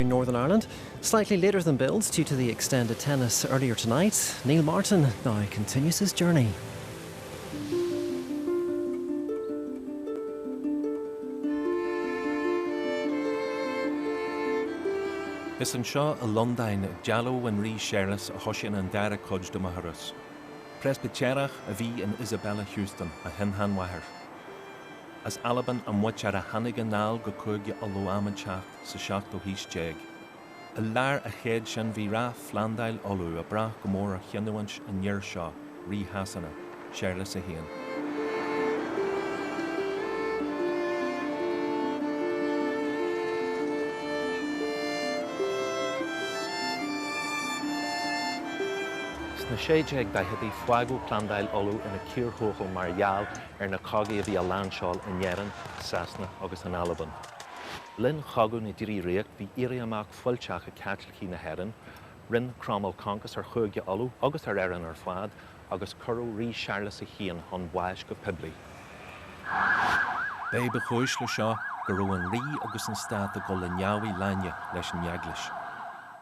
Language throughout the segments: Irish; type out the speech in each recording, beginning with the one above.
in Northern Ireland slightly later than billed due to the extended tennis earlier tonight, Neil Martin now continues his journey. Is anseo i Londain, ag dealbh an Rí Séarlas, a thosaíonn an dara cuid de mo thuras. Preispitéarach a bhí in Isabella Houston, mo shin-seanmháthair. As Albain a muintir a tháinig anall go Cúige Uladh am éigineacht. sa seachtú haois déag. I lár an chéid sin, bhí rath Phlandáil Uladh ag brath go mór ar chinniúint an fhir seo, Rí Shasana, Séarlas a hAon. Sna 1640idí, fágadh Plandáil Uladh ina cíor thuathail mar gheall ar na cogaí a bhí ag réabadh in Éirinn, Sasana agus in Albain. linn Chogadh na dTrí Ríocht bhí éirí amach fuilteach ag Caitlicigh na hÉireann, rinne Cromail concas ar Chúige Uladh agus ar Éirinn ar fad, agus cuireadh Rí Séarlas a hAon chun báis go poiblí. B'é ba chúis le seo go raibh an Rí agus an Stát ag dul i ndeabhaidh lainne leis an Eaglais.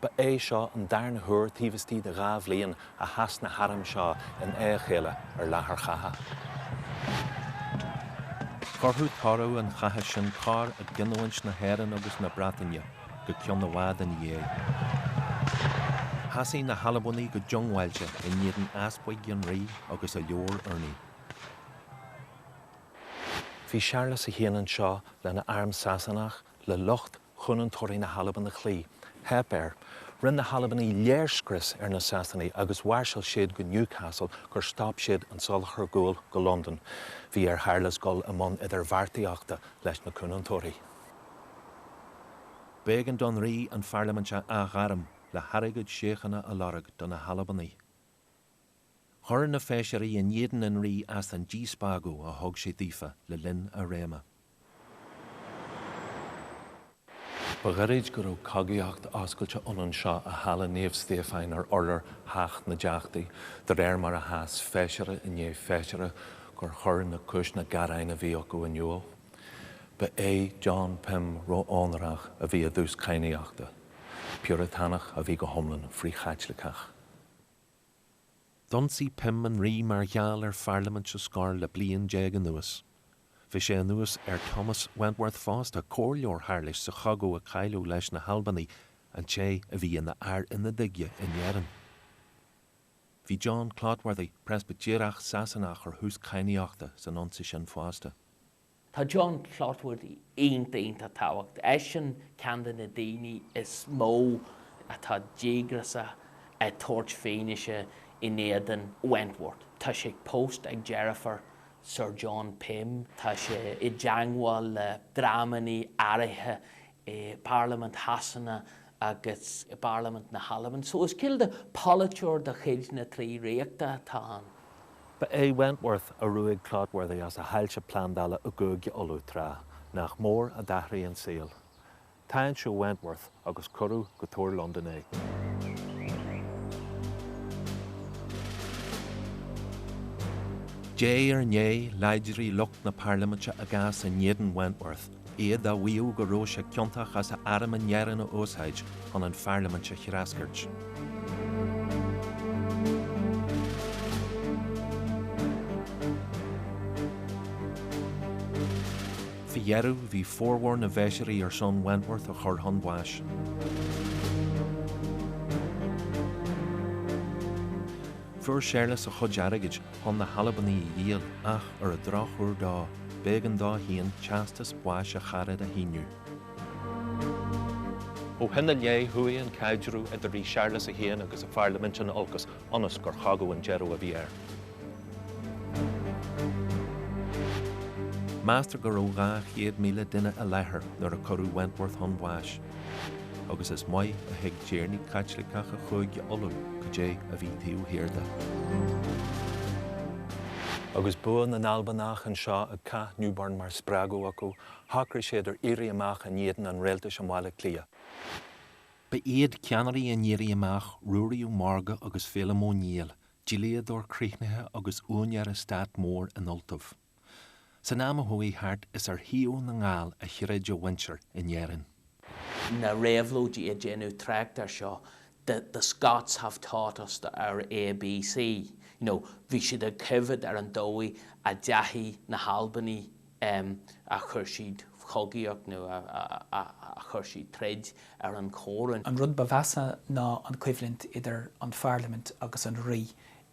Ba é seo an darna huair taobh istigh de dhá bhliain a sheas na hairm seo in aghaidh a chéile ar láthair chatha. Chuirfeadh toradh an chatha sin cor i gcinniúint na hÉireann agus na Breataine go ceann i bhfad ina dhiaidh. Sheasaigh na hAlbanaigh go diongbháilte i n-éadan easpaig an rí agus a leabhar urnaí. Bhí Séarlas a hAon anseo lena arm Sasanach, le lucht Cúnantóirí na hAlban a chloí, theip air. Rinne na hAlbanaigh léirscrios ar na Sasanaigh agus mhairseáil siad go Newcastle gur stop siad an soláthar guail go Londain. Bhí ar Shéarlas dul i mbun idirbheartaíochta leis na Cúnantóirí. B'éigean don Rí an Pharlaimint a athghairm le hairgead síochána a lorg do na hAlbanaigh. Chuir na Feisirí in éadan an rí as an díspeagadh a thug sé daofa le linn a réime. Ba ghairid go raibh cogaíocht oscailte ann anseo i Halla Naomh Stiofáin ar urlár Theach na dTeachtaí, de réir mar a sheas Feisire i ndiaidh Feisire gur chuir na cúiseanna gearáin a bhí acu in iúl. Ba é John Pym, Ró-Onórach, a bhí i dtús cadhnaíochta. Piúratánach a bhí go hiomlán frith-Chaitliceach. D'ionsaigh Pym an Rí mar gheall ar Pharlaimint a scor le haon bhliain déag anuas. Bhí sé anuas ar Thomas Wentworth fosta, comhairleoir Shéarlais sa chogadh a cailleadh leis na hAlbanaigh, an té a bhí ina Fhear Ionaid aige in Éirinn. Bhí John Clotworthy, Preispitéarach Sasanach ar thús cadhnaíochta san ionsaí sin fosta. Tá John Clotworthy iontach, iontach tábhachtach. Eisean ceann de na daoine is mó atá díograsach ag tabhairt fianaise in éadan Wentworth. Tá sé pósta ar dheirfiúr Sir John Pym, tá sé i dteangmháil le dreamannaí áirithe i bParlaimint Shasana agus i bParlaimint na hAlban, so is cineál de pholaiteoir de chuid na dTrí Ríochta atá ann. Ba é Wentworth a ruaig Clotworthy as a thailte plandála i gCúige Uladh tráth, nach mór a d'athraigh an saol. Táinsíodh Wentworth agus cuireadh go Túr Londan é. De réir a chéile, láidrigh lucht na Parlaiminte a gcás in éadan Wentworth iad á mhaíomh go raibh sé ciontach as a arm in Éirinn a úsáid chun an pharlaimint a threascairt. Faoi dheireadh, bhí formhór na bhfeisirí ar son Wentworth a chur chun báis. Fuair Séarlas a chuid airgid chun na hAlbanaigh a dhíol ach ar an drochuair dó, b'éigean dó féin teastas báis a charad a shíniú. Ó shin i leith, chuaigh an caidreamh idir Rí Séarlas a hAon agus a pharlaimint in olcas ionas gur chogadh an deireadh a bhí air. Meastar go raibh 200,000 duine i láthair nuair a cuireadh Wentworth chun báis. agus is maith a thuig tiarnaí Caitliceacha Chúige Uladh cad é a bhí taobh thiar de. Agus bua na nAlbanach anseo ag Cath Newburn mar spreagadh acu, shocraigh siad ar éirí amach in éadan an rialtais i mBaile Átha Cliath. Ba iad ceannairí an éirí amach Ruairí Ó Mórdha agus Féilim Ó Néill, dlíodóir críochnaithe agus úinéir eastát mór in Ultaibh. San am a chuaigh thart is ar thaobh na nGall a throid a mhuintir in Éirinn. na réabhlóidí ag déanamh trácht air seo, 'the the Scots have taught us the our A B C'. You know bhí siad ag coimhead ar an dóigh a ndeachaigh na hAlbanaigh em a chuir siad cogaíocht nó a a a chuir siad troid ar an choróin. An rud ba mheasa ná an choimhlint idir an pharlaimint agus an rí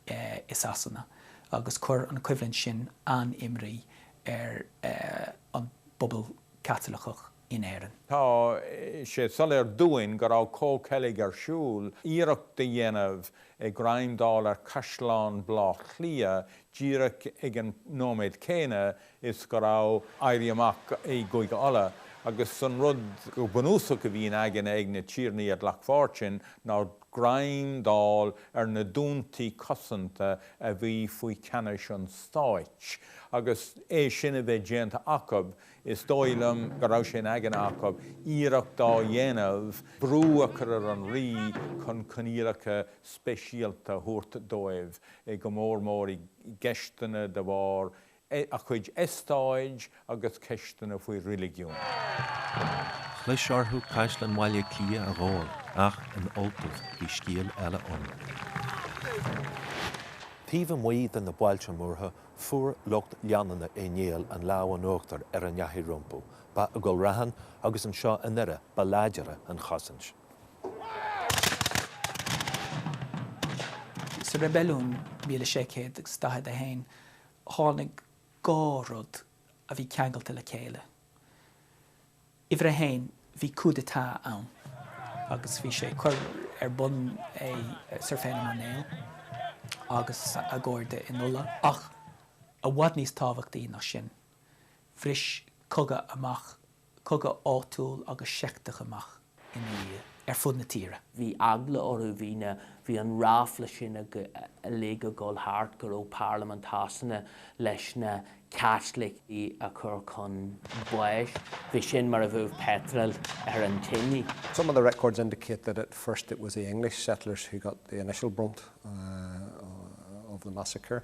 i Sasana agus chuir an choimhlint sin an-imní ar an bpobal Caitliceach in Éirinn. Tá sé soiléir dúinn go raibh comhcheilg ar siúl, iarracht a dhéanamh greim a fháil ar chaisleán Bhlá Chliath díreach ag an nóiméad céanna is go raibh éirí amach i gCúige Uladh, agus an rud go bunúsach a bhí in aigne ag na tiarnaí a ghlac páirt ansin ná, greim d'fháil ar na dúntaí cosanta a bhí faoi cheannas an stáit, agus é sin a bheith déanta acu, is dóigh liom go raibh sé in aigne acu iarracht a dhéanamh brú a chur ar an rí chun coinníollacha speisialta a thabhairt dóibh, go mór mór i gceisteanna de bharr a gcuid eastát agus ceisteanna faoi reiligiún. Chlis orthu Caisleán Bhaile Átha Cliath a ghabháil ach in Ultaibh bhí scéal eile ann. Taobh amuigh de na bailte múrtha, fuair lucht leanúna Uí Néill an lámh in uachtar ar a ndeachaigh rompu. Ba i gCill Raithin agus anseo i nDoire ba láidire an chosaint. Sa reibiliún, míle sé chéad agus daichead a haon, tháinig dhá rud a bhí ceangailte le chéile. Uimhir a haon, bhí coup d'état ann agus bhí sé curtha ar bun ag Sir Féilim Ó Néill agus a chairde in Ulaidh ach, i bhfad níos tábhachtaí ná sin, bhris cogadh amach cogadh áitiúil agus seicteach amach ina dhiaidh ar fud na tíre. Bhí eagla orthu, bhí an ráfla sin uilig ag dul thart go raibh Parlaimint Shasana leis na Caitlicigh a chur chun báis. B'shin mar a bheadh peitreal ar an tinidh. Some of the records indicate that at first it was the English settlers who got the initial brunt of the massacre.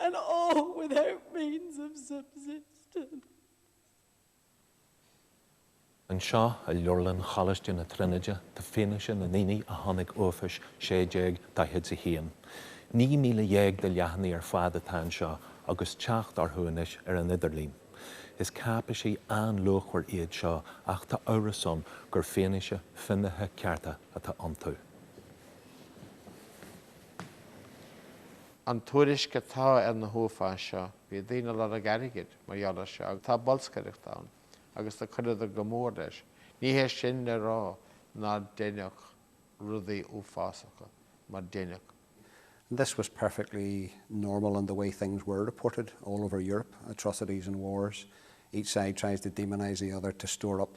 and all without means of subsistence. Anseo i Leabharlann Choláiste na Tríonóide tá fianaise na ndaoine a chonaic uafáis 1641. 19,000 de leathanaigh ar fad atá anseo agus teacht orthu anois ar an idirlíon. Is cáipéisí an-luachmhar iad seo ach tá amhras ann gur fianaise finnéithe cearta atá iontu. an tuairisc atá ar na huafáis seo, bhí daoine ag lorg airgid mar gheall ar seo, agus tá bolscaireacht ann, agus do cuireadar go mór leis. Ní hé sin le rá nár deineadh rudaí uafásacha, mar deineadh. And this was perfectly normal in the way things were reported all over Europe, atrocities and wars, each side tries to demonize the other to stir up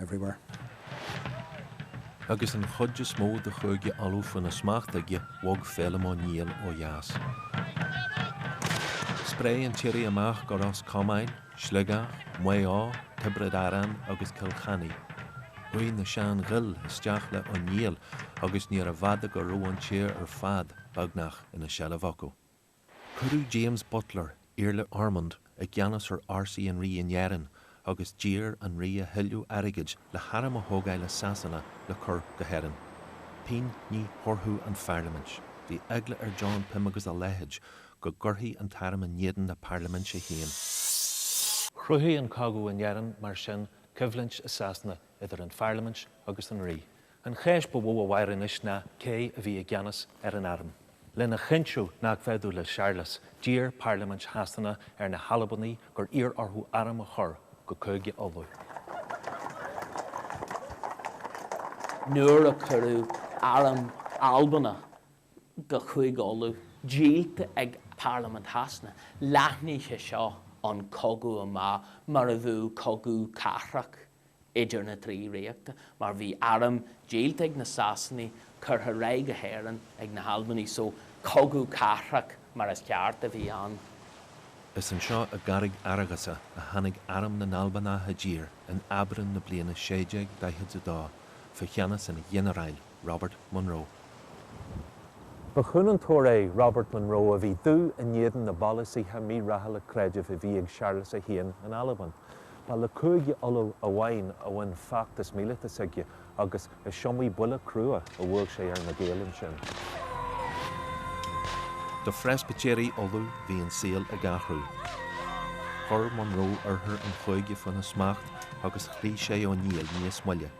everywhere. Agus an chuid is mó de Chúige Uladh faoina smacht aige, bhog Féilim Ó Néill ó dheas. Spréigh an t-éirí amach go Ros Comáin, Sligeach, Maigh Eo, Tiobraid Árann agus Cill Chainnigh. Chuaigh na Sean-Ghaill isteach le Ó Néill agus níorbh fhada go raibh an tír ar fad, beagnach, ina seilbh acu. Cuireadh James Butler, Iarla Ormond, i gceannas ar fhórsaí an rí in Éirinn agus d'iarr an rí a thuilleadh airgid le hairm a thógáil as Sasana le cur go hÉirinn. Pingin ní thabharfadh an pharlaimint. Bhí eagla ar John Pym agus a leithéid go gcuirfí an t-arm in éadan na parlaiminte féin. Chruthaigh an cogadh in Éirinn, mar sin, coimhlint i Sasana idir an pharlaimint agus an rí. An cheist ba mhó a mhair anois ná cé a bhí i gceannas ar an arm. Lena chinntiú nach bhféadfadh le Séarlas, d'iarr Parlaimint Shasana ar na hAlbanaigh gur iarr orthu arm a chur go Cúige Uladh. Nuair a cuireadh arm Albanach go Cúige Uladh, díolta ag Parlaimint Shasana, leathnaigh sé seo an cogadh amach mar a bheadh cogadh cathrach idir na trí ríochta, mar bhí arm díolta ag na Sasanaigh curtha ar aghaidh go hÉirinn ag na hAlbanaigh, so cogadh cathrach mar is ceart a bhí ann. Is anseo i gCarraig Fhearghasa a tháinig arm na nAlbanach i dtír in Aibreán na bliana 1642 faoi cheannas an Ghinearáil Robert Munro. Ba chúnantóir é Robert Munro a bhí dubh in éadan na bpolasaithe mírathúla creidimh a bhí ag Séarlas 1 in Albain. Ba le Cúige Uladh amháin a bhain feachtas míleata s'aige agus is iomaí buille crua a bhuail sé ar na Gaeil ansin. Do Phreispitéirigh Uladh bhí an saol ag athrú. Chuir Munro oirthear an chúige faoina smacht agus chloígh sé Ó Néill níos moille.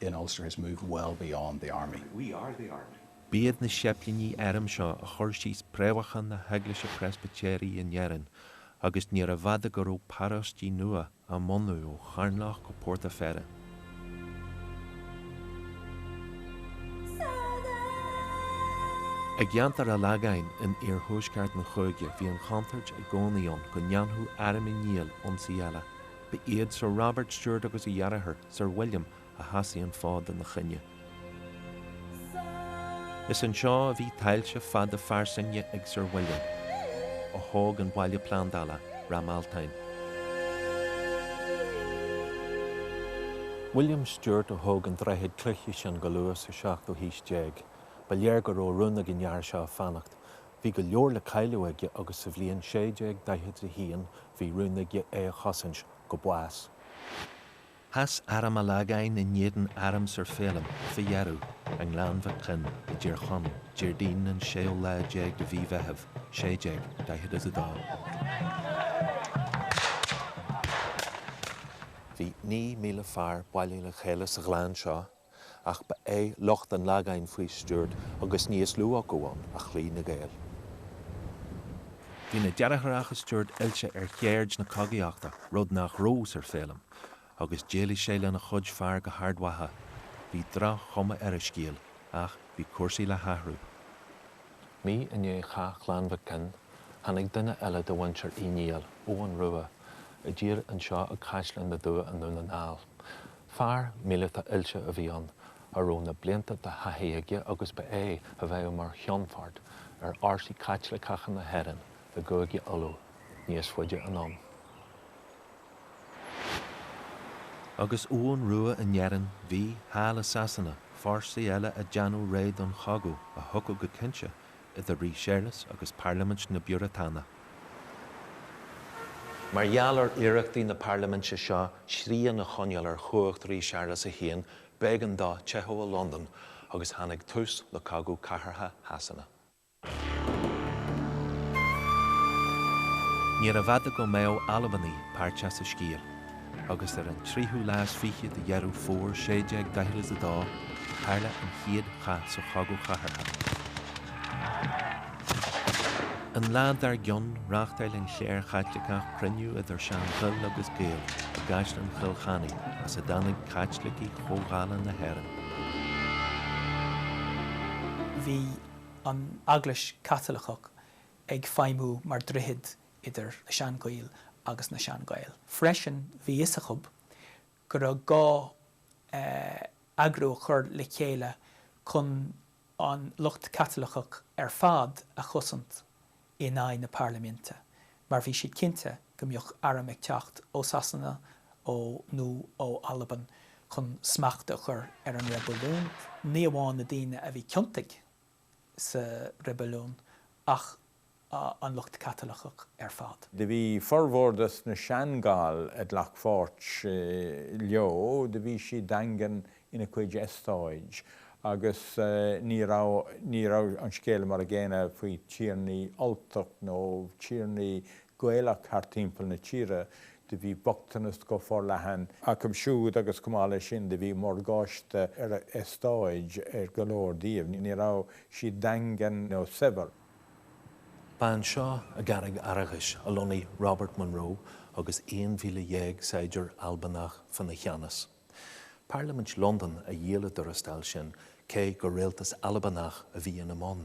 in Ulster has moved well beyond the Army. We are the Army. B'iad na séiplínigh airm seo a chuir síos préamhacha na hEaglaise Preispitéirí in Éirinn agus níorbh fhada go raibh paróistí nua á mbunú ó Charnlach go Port a' Pheire. I gceantar a' Lagáin in iarthuaisceart an chúige bhí an chontúirt i gcónaí ann go ndéanfadh arm Uí Néill ionsaí eile. Ba iad Sir Robert Stewart agus a dheartháir, Sir William a sheasaigh an fód ina choinne. Is anseo a bhí tailte fada fairsinge ag Sir William, a thóg an baile plandála, Ráth Mealtain. William Stewart a thóg an droichead cloiche sin go luath sa seachtú haois déag. Ba léir go raibh rún ag an fhear seo fanacht. Bhí go leor le cailleadh aige agus sa bhliain 1641 bhí rún aige é a chosaint go bás. Sheas arm a' Lagáin in éadan arm Sir Féilim fá dheireadh, i nGleann Mhic Coinn i dTír Chonaill, Déardaoin an séú lá déag de mhí Mheitheamh, 1642. Bhí naoi míle fear bailithe le chéile sa ghleann seo ach ba é lucht an Lagáin faoi Stuart, agus níos lú acu ann, a chloígh na Gaeil. Bhí na deartháireacha Stuart oilte ar cheird na cogaíochta, rud nach raibh Sir Féilim, agus d'éalaigh sé lena chuid fear go hArd Mhacha. Bhí droch-chuma ar a scéal, ach bhí cúrsaí le hathrú. Mí i ndiaidh chath Ghleann Mhic Coinn, tháinig duine eile de mhuintir Uí Néill, Eoghan Rua, i dtír anseo ag Caisleán na dTuath i nDún na nGall. Fear míleata oilte a bhí ann a raibh na blianta de thaithí aige agus ba é a bheadh mar cheannfort ar fhórsaí Caitliceacha na hÉireann i gCúige Uladh níos faide anonn. Agus Eoghan Rua in Éirinn, bhí, thall i Sasana, fórsaí eile ag déanamh réidh don chogadh a thiocfadh go cinnte idir Rí Séarlas agus Parlaimint na bPiúratánach. Mar gheall ar iarrachtaí na parlaiminte seo srian a choinneáil ar chumhacht Rí Séarlas a hAon, b'éigean dó teitheadh ó Londain, agus tháinig tús le Cogadh Cathartha Shasana. Níorbh fhada go mbeadh Albanaigh páirteach sa scéal. agus ar an tríú lá is fiche de Dheireadh Fómhair 1642 tharla an chéad chath sa chogadh chathartha. An lá dár gcionn, reáchtáil an chléir Chaitliceach cruinniú idir Sean-Ghaill agus Gaeil i gCaisleán Chill Chainnigh, as a dtáinig Caitlicigh Chomhdhála na hÉireann. Bhí an Eaglais Chaitliceach ag feidhmiú mar dhroichead idir na Sean-Ghaill agus na Sean-Ghaeil. Freisin, bhí fhios acu go raibh gá eagrú a chur le chéile chun an lucht Caitliceach ar fad a chosaint in aghaidh na Parlaiminte, mar bhí siad cinnte go mbeadh airm ag teacht ó Sasana ó nó ó Albain chun smacht a chur ar an reibiliún, ní amháin na daoine a bhí ciontach. sa reibiliún ach an lucht Caitliceach ar fad. Do bhí formhór de sna Sean-Gall a glac pháirt leo, do bhí siad daingean ina cuid estáid agus ní raibh ní raibh an scéal mar a gcéanna faoi tiarnaí Ultach nó tiarnaí Gaelach thart timpeall na tíre, do bhí bochtanas go forleathan acu siúd agus chomh maith leis sin do bhí morgáiste ar a estáit ar go leor díobh. Ní raibh siad daingean nó saibhir. Ba anseo i gCarraig Fhearghais a lonnaigh Robert Munro agus 11,000 saighdiúir Albanach faoina cheannas. Parlaimint Londain a dhíol a dtuarastail sin cé gur rialtas Albanach a bhí ina mbun.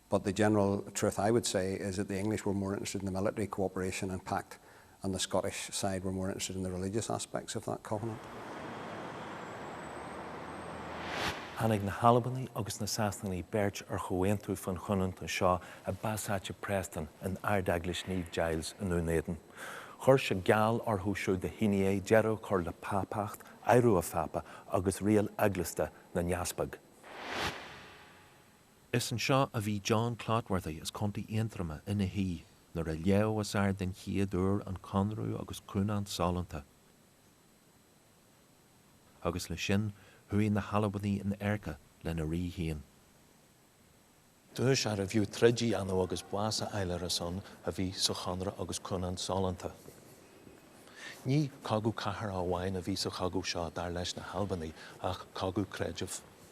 but the general truth I would say is that the English were more interested in the military co-operation and pact and the Scottish side were more interested in the religious aspects of that covenant. Tháinig na hAlbanaigh agus na Sasanaigh beirt ar chomhaontú faoin chúnant anseo i bpasáiste Preston in Ardeaglais Naomh Giles i nDún Éideann. Chuir sé geall orthu siúd a shínigh é deireadh a chur le pápacht, adhradh an phápa agus riail eaglasta na n-easpag. Is anseo a bhí John Clotworthy as Co. Aontroma ina shuí nuair a léadh os ard den chéad uair an Conradh agus Cúnant Sollúnta, agus leis sin chuaigh na hAlbanaigh in adharca lena rí féin. Duais arbh fhiú troid a dhéanamh agus bás a fháil ar a son a bhí sa Chonradh agus Cúnant Sollúnta. Ní cogadh cathartha amháin a bhí sa chogadh seo, dar leis na hAlbanaigh, ach cogadh creidimh.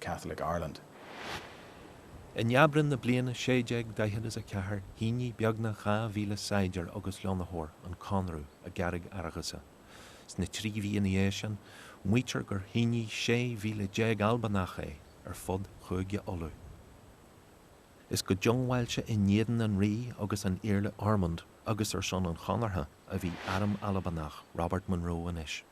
Catholic Ireland. In Aibreán na bliana 1644 shínigh beagnach dhá mhíle saighdiúir agus lonnaitheoir an conradh i gCarraig Fhearghusa. Sna trí mhí ina dhiaidh sin, maítear gur shínigh sé mhíle déag Albanach é ar fud Chúige Uladh. Is go diongbháilte in éadan an rí agus an Iarla Ormonde agus ar son an chonartha a bhí arm Albanach Robert Munro anois.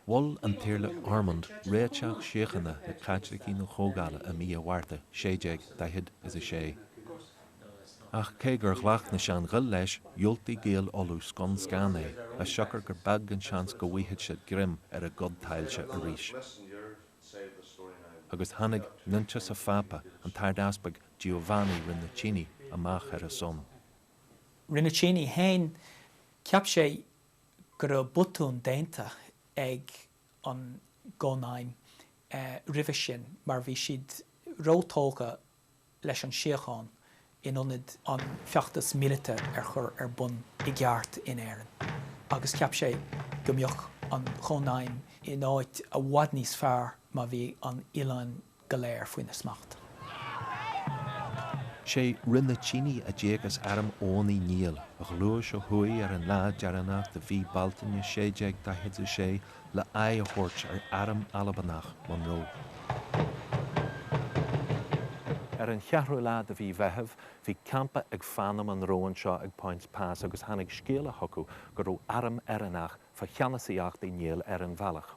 Mhol an tIarla Ormonde réiteach síochána le Caitlicigh na Comhdhála i mí an Mhárta 1646, ach cé gur ghlac na Sean-Ghaill leis, dhiúltaigh Gaeil Uladh scun scan é, as siocair gur beag an seans go bhfaigheadh siad greim ar a gcuid tailte arís. Agus tháinig Nuinteas an Phápa, an tArdeaspag Giovanni Rinuccini, amach ar a son. Rinuccini féin, cheap sé go raibh botún déanta ag an gCónaidhm roimhe sin mar bhí siad róthógtha leis an síocháin in ionad an feachtas míleata a chur ar bun i gceart in Éirinn agus cheap sé go mbeadh an Chónaidhm in áit i bhfad níos fearr má bhí an oileán go léir faoina smacht. Sé Rinuccini a d'íoc as arm Eoghain Uí Néill, a ghluais ó thuaidh ar an lá deireanach de mhí Bealtaine 1646 le haghaidh a thabhairt ar arm Albanach Monroe. Ar an cheathrú lá de mhí Mheithimh bhí campa ag Fan i Monroe anseo ag Poyntzpass agus tháinig scéala chucu go raibh arm Éireannach fá cheannasaíocht Uí Néill ar an bhealach.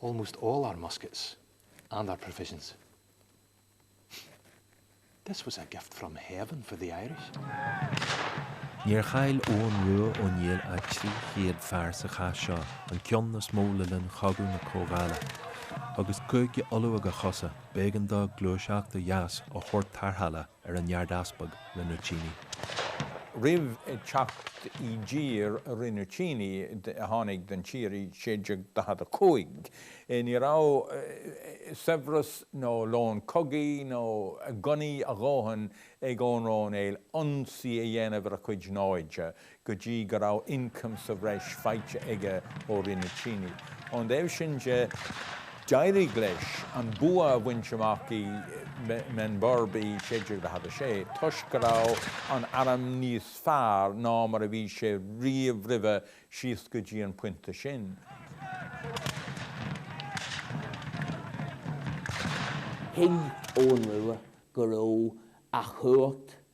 almost all our muskets and our provisions. This was a gift from heaven for the Irish. Níor chaill Eoghan Rua Ó Néill ach 300 fear sa chath seo, an ceann is mó le linn Chogadh na Comhdhála. Agus Cúige Uladh ag a chosa, b'éigean dó gluaiseacht ó dheas a thabhairt tarrthála. ar an ardeaspag Rinuccini. Roimh theacht i dtír Rinuccini, a tháinig don tír i 1645, ní raibh saibhreas nó lón cogaidh nó gunnaí a dhóthain ag Eoghan Rua Ó Néill ionsaí a dhéanamh ar a chuid naimhde. go dtí go raibh ioncam sa bhreis faighte aige ó Rinuccini. Ón dtaobh sin de, d'éirigh leis an bua a bhaint amach i mBenburb i 1646, toisc go raibh an arm níos fearr ná mar a bhí sé riamh roimhe síos go dtí an pointe sin. Thuig Eoghan Rua go raibh a chumhacht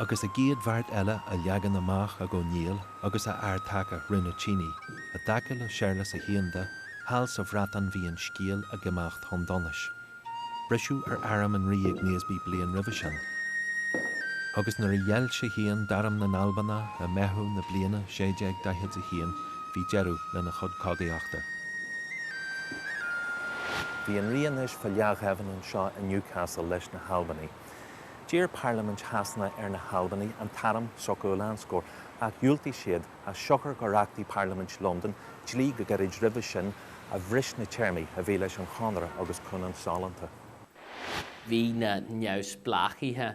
agus a gcéad bheart eile á leagan amach ag Ó Néill agus a fhear taca, Rinuccini, i dtaca le Séarlas a hAon de, thall sa Bhreatain bhí an scéal ag imeacht chun donais. Briseadh ar arm an rí ag Naseby bliain roimhe sin, agus nuair a ghéill sé féin d'arm na nAlbanach i Meitheamh na bliana 1641, bhí deireadh lena chuid cogaíochta. Bhí an rí anois fá leathghéibheann anseo i Newcastle leis na hAlbanaigh. D'iarr Parlaimint Shasana ar na hAlbanaigh an t-arm s'acu a lánscor, ach dhiúltaigh siad, as siocair gur achtaigh Parlaimint Londan dlí go gairid roimhe sin a bhris na téarmaí a bhí leis an chonradh agus cúnant sollúnta. Bhí na neamhspleáchaithe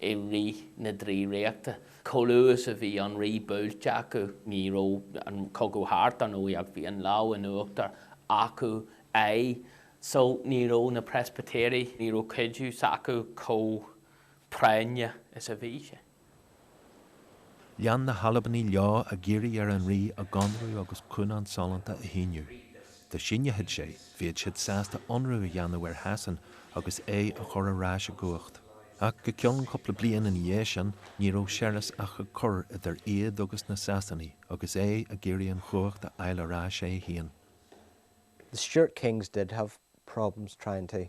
i rith na dTrí Ríochta. Chomh luath is a bhí an rí buailte acu, ní raibh an cogadh thart, dar ndóigh, ach bhí an lámh in uachtar acu aye so ní raibh na Preispitéirigh, ní raibh cuidiú s'acu chomh práinneach is a bhí sé. Lean na hAlbanaigh leo ag iarraidh ar an rí a gconradh agus cúnant sollúnta a shíniú. Dá síneochadh sé, bheadh siad sásta ionradh a dhéanamh ar Shasain agus é a chur ar ais i gcumhacht. Ach go ceann cúpla bliain ina dhiaidh sin, ní raibh Séarlas ach ag cur idir iad agus na Sasanaigh agus é ag iarraidh an chumhacht a fháil ar ais é féin. The Stuart kings did have problems trying to.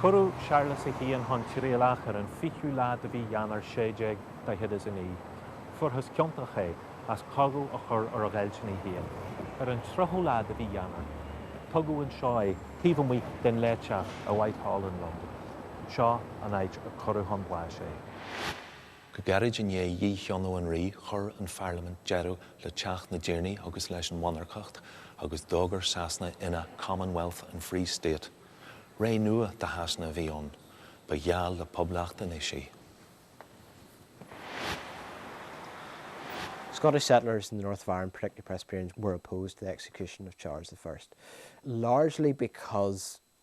Cuireadh Séarlas a hAon chun trialach ar an 20ú lá de mhí Eanáir 1649, fuarthas ciontach é as cogadh a chur ar a ghéillsinigh féin. Ar an 30ú lá de mhí Eanáir, tugadh anseo é taobh amuigh den Fhleáteach i Whitehall i Londain. Seo an áit a cuireadh chun báis é. Go gairid i ndiaidh dhícheannadh an rí, chuir an pharlaimint deireadh le Teach na dTiarnaí agus leis an mhonarcacht, agus d'fhógair Sasana ina 'Commonwealth and Free State'. Ré nua do Shasana a bhí ann. Ba gheall le poblacht anois í. Scottish settlers in the North of Ireland, particularly Presbyterians, were opposed to the execution of Charles the First, largely because.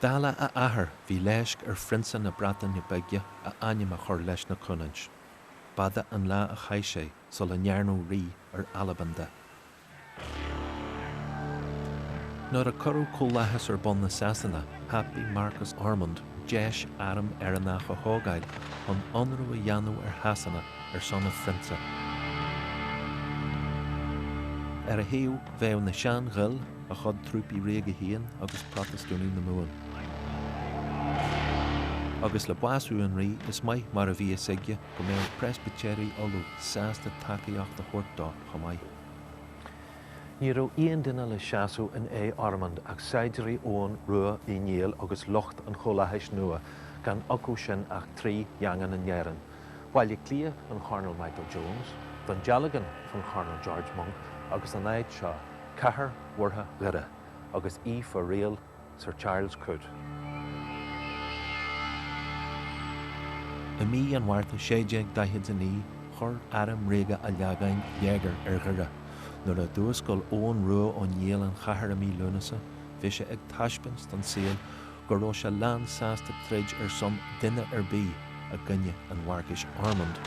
Dála a athair, bhí leisc ar Phrionsa na Breataine Bige a ainm a chur leis na Cúnaint. B'fhada an lá a chaith sé sula ndearnadh rí ar Albain de. Nuair a cuireadh Comhlathas ar bun i Sasana, thapaigh Marcas Ormonde deis arm Éireannach a thógáil chun ionradh a dhéanamh ar Shasana ar son a phrionsa. Ar a thaobh, bheadh na Sean-Ghaill, a chuid trúpaí ríoga féin agus Protastúnaigh na Mumhan. Agus le bású an rí, is maith mar a bhí fhios aige go mbeadh Preispitéirigh Uladh sásta tacaíocht a thabhairt dó chomh maith. Ní raibh aon duine le seasamh in aghaidh Ormonde ach saighdiúirí Eoghain Rua Uí Néill agus lucht an Chomhlathais nua, gan acu sin ach trí dhaingean in Éirinn, Baile Átha Cliath don Chornal Michael Jones, Dún Dealgan don Chornal George Monck agus an áit seo, cathair mhúrtha Dhoire, agus í fá riail Sir Charles Coote. I mí an Mhárta 1649 chuir arm ríoga an Lagáin léigear ar Dhoire. Nuair a d'fhuascail Eoghan Rua Ó Néill an chathair i mí Lúnasa bhí sé ag taispeáint don saol, go raibh sé lán sásta troid ar son duine ar bith i gcoinne an Mharcais Ormonde.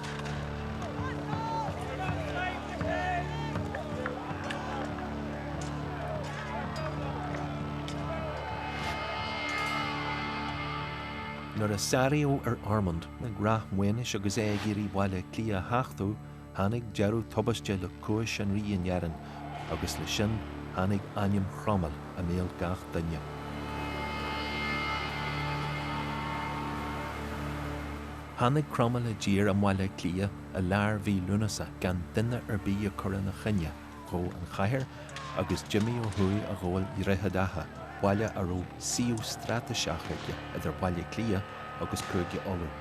Nuair a sáraíodh ar Ormonde ag Ráth Maonais agus é ag iarraidh Baile Átha Cliath a thachtadh, Tháinig deireadh tubaisteach le cúis an rí in Éirinn agus leis sin tháinig ainm Chromail i mbéal gach duine. Tháinig Cromail i dtír i mBaile Átha Cliath i lár mhí Lúnasa gan duine ar bith a cur ina choinne. dhó an chathair agus d'imigh ó thuaidh a ghabháil Dhroichead Átha, baile a raibh suíomh straitéiseach aige idir Baile Átha Cliath agus Cúige Uladh.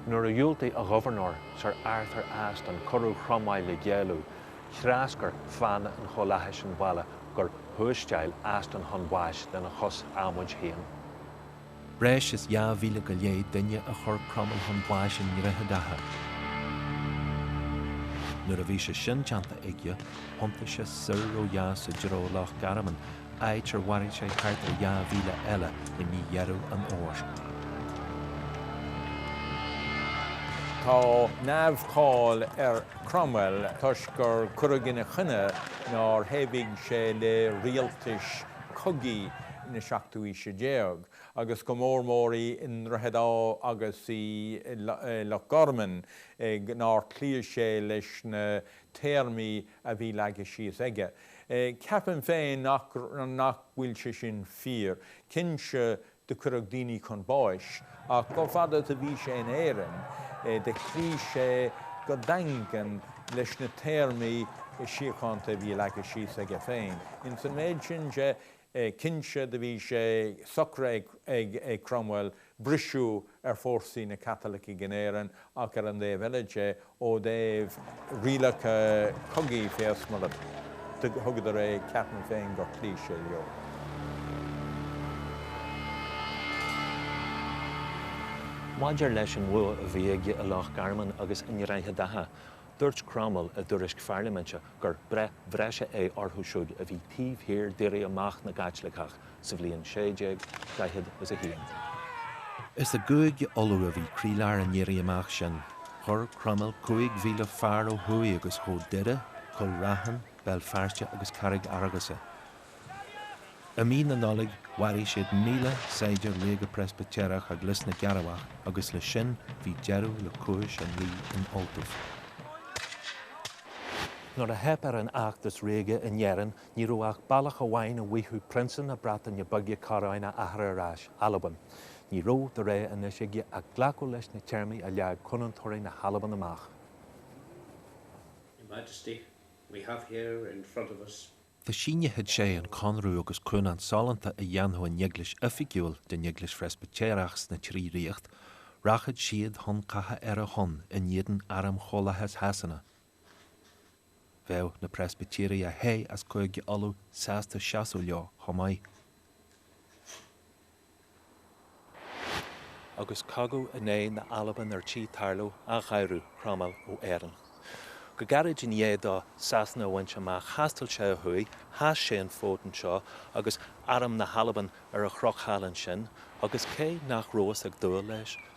Nuair a dhiúltaigh a ghobharnóir, Sir Arthur Aston, cuireadh Chromail le géilleadh threascair fiann an Chomhlathais an balla gur thuairteáil Aston chun báis lena chos adhmaid féin. Breis is dhá mhíle go leith duine a chuir Cromail chun báis i nDroichead Átha. Nuair a bhí sé sin déanta aige, thiontaigh sé soir ó dheas i dtreo Loch Garman, áit ar mharaigh sé thart ar dhá mhíle eile i mí Dheireadh an Fhómhair. Tá neamh-cháil ar Cromwell toisc gur cuireadh ina choinne nár thaobhaigh sé le rialtais cogaidh na seachtú aoise déag, agus go mór mór i nDroichead Átha agus i Loch Garman, nár chloígh sé leis na téarmaí a bhí leagtha síos aige. Ceapaim féin nach bhfuil sé sin fíor. Cinnte do cuireadh daoine chun báis, ach chomh fada is a bhí sé in Éirinn, do chloígh sé go daingean leis na téarmaí síochánta a bhí leagtha síos aige féin. Ins an méid sin de, cinnte, do bhí sé socraithe ag Cromwell briseadh ar fórsaí na gCaitlicigh in Éirinn, ach ar an dtaobh eile de, ó thaobh rialacha cogaidh fé is mar a thuigeadar é ceapaim féin gur chloígh sé leo. Maidir leis an bhua a bhí aige i Loch Garman agus i nDroichead Átha, dúirt Cromail i dtuairisc pharlaiminte gur 'breith bhreise é orthu siúd a bhí taobh thiar d'éirí amach na gCaitliceach sa bhliain 1641. Is i gCúige Uladh a bhí croílár an éirí amach sin. Chuir Cromail 5,000 fear ó thuaidh agus ghabh Doire, Cúil Raithin, Béal Feirste agus Carraig Fhearghusa. I mí na Nollag, mharaigh siad 1,000 saighdiúir ríoga Preispitéireach ag Lios na gCearrbhach agus leis sin bhí deireadh le cúis an rí in Ultaibh. Nuair a theip ar an fheachtas ríoga in Éirinn Ní raibh ach bealach amháin a bhfaigheadh Prionsa na Breataine Bige coróin a athar ar ais, Albain. Ní raibh de rogha anois aige ach glacadh leis na téarmaí a leag Cúnantóirí na hAlban amach. Your Majesty, we have here in front of us. Dá síneodh sé an conradh agus cúnant sollúnta a dhéanfadh an Eaglais oifigiúil den Eaglais Phreispitéireach sna trí ríocht, rachadh siad chun catha ar a shon in éadan Airm Chomhlathas Shasana, Bheadh na Preispitéirigh a theith as Cúige Uladh sásta seasamh leo chomh maith. Agus cogadh in aghaidh na hAlban ar tí tarlú, athghaireadh Cromail ó Éirinn. Go gairid i ndiaidh dó Sasana a bhaint amach, thaistil sé ó thuaidh, sheas sé an fód anseo, agus arm na hAlban ar an chnoc thall ansin, agus cé nach rabhas ag dúil leis,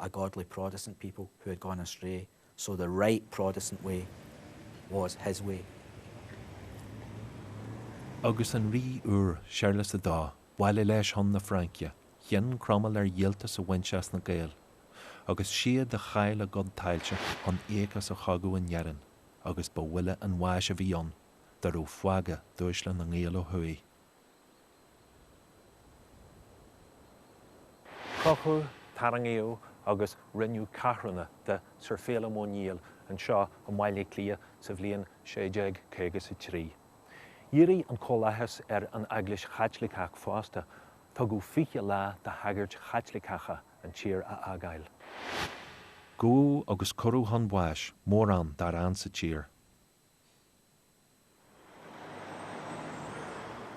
a godly Protestant people who had gone astray, so the right Protestant way was his way. Agus an rí úr, Séarlas a Dó, abhaile leis chun na Fraince, chinn Cromail ar dhíoltas a bhaint as na Gaeil, agus is iad a chaill a gcuid tailte chun íoc as an chogadh in Éirinn, agus ba bhuille an bháis a bhí ann, dá raibh fágtha d'uaisle na nGael ó thuaidh. Crochadh, tarraingíodh agus rinneadh ceathrúna de Sir Féilim Ó Néill anseo i mBaile Átha Cliath sa bhliain 1653. Dhírigh an Comhlathas ar an Eaglais Chaitliceach fosta, tugadh 20 lá do shagairt Chaitliceacha an tír a fhágáil. Gabhadh agus cuireadh chun báis mórán dár fhan sa tír.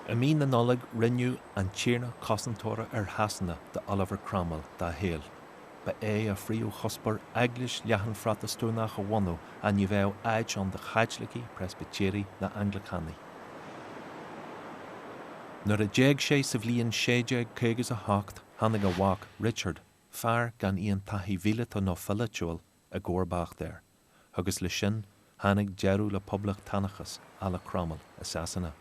I mí na Nollag rinneadh an Tiarna Cosantóra ar Shasana d'Oliver Cromwell dá shaol. Ba é a phríomhchuspóir eaglais leathan Phrotastúnach a bhunú ach ní bheadh áit ann do Chaitlicigh, Preispitéirigh ná Anglacánaigh. Nuair a d'éag sé sa bhliain 1658 tháinig a mhac Richard, fear gan aon taithí mhíleata nó pholaitiúil, i gcomharbacht air. agus leis sin tháinig deireadh le poblachtánachas à la Cromaill i Sasana.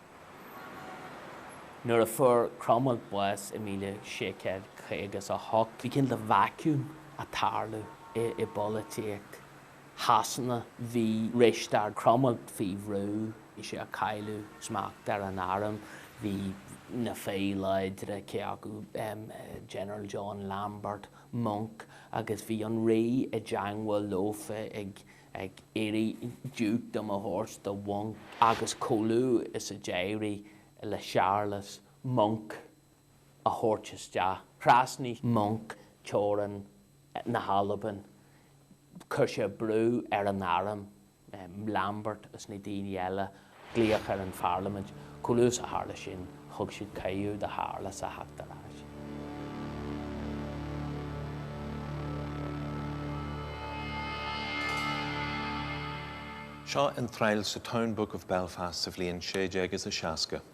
Nuair a fuair Cromaill bás i míle sé céad caoga is a hocht, bhí cineál de vacuum ag tarlú i bpolaitíocht Shasana. Bhí Risteard Cromaill faoi bhrú, bhí sé ag cailleadh smacht ar an arm, bhí na fir láidre, cé acu General John Lambert, Monck, agus bhí an rí i dteangmháil leofa ag iarraidh dukedom a thabhairt do Mhonck, agus chomh luath is a d'éirigh le Séarlas Monck a thabhairt isteach, thrasnaigh Monck teorainn na hAlban, chuir sé brú ar an arm, Lambert is na daoine eile glaoch ar an pharlaimint. Chomh luath is a tharla sin, thug siad cuireadh do Shéarlas a theacht ar ais. Seo iontráil sa Town Book of Belfast sa bhliain 1660.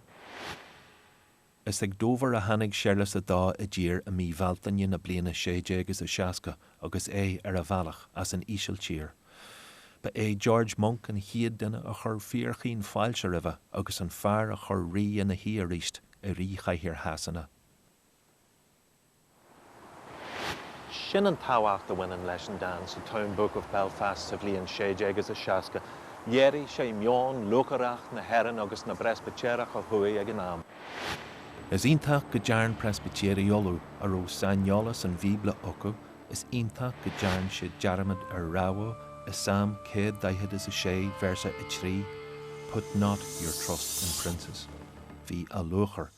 Is ag Dobhar a tháinig Séarlas a Dó i dtír i mí Bhealtaine na bliana sé déag is a seasca agus é ar a bhealach as an Ísiltír. Ba é George Monck an chéad duine a chuir fíorchaoin fáilte roimhe agus an fear a chuir rí ina shuí aríst i ríchathaoir Shasana. Sin an tábhacht a bhaineann leis an dán sa Town Book of Belfast sa bhliain 1660. Léirigh sé meon lúcháireach na hÉireann agus na bPreispitéireach ó thuaidh ag an am. Is iontach go dtearn Preispitéirigh Uladh a raibh saineolas an Bhíobla acu, is iontach go dtearn siad dearmad ar rabhadh i Salm céad daichead is a sé, véarsa a trí, Put not your trust in princes. Bhí a lúcháir.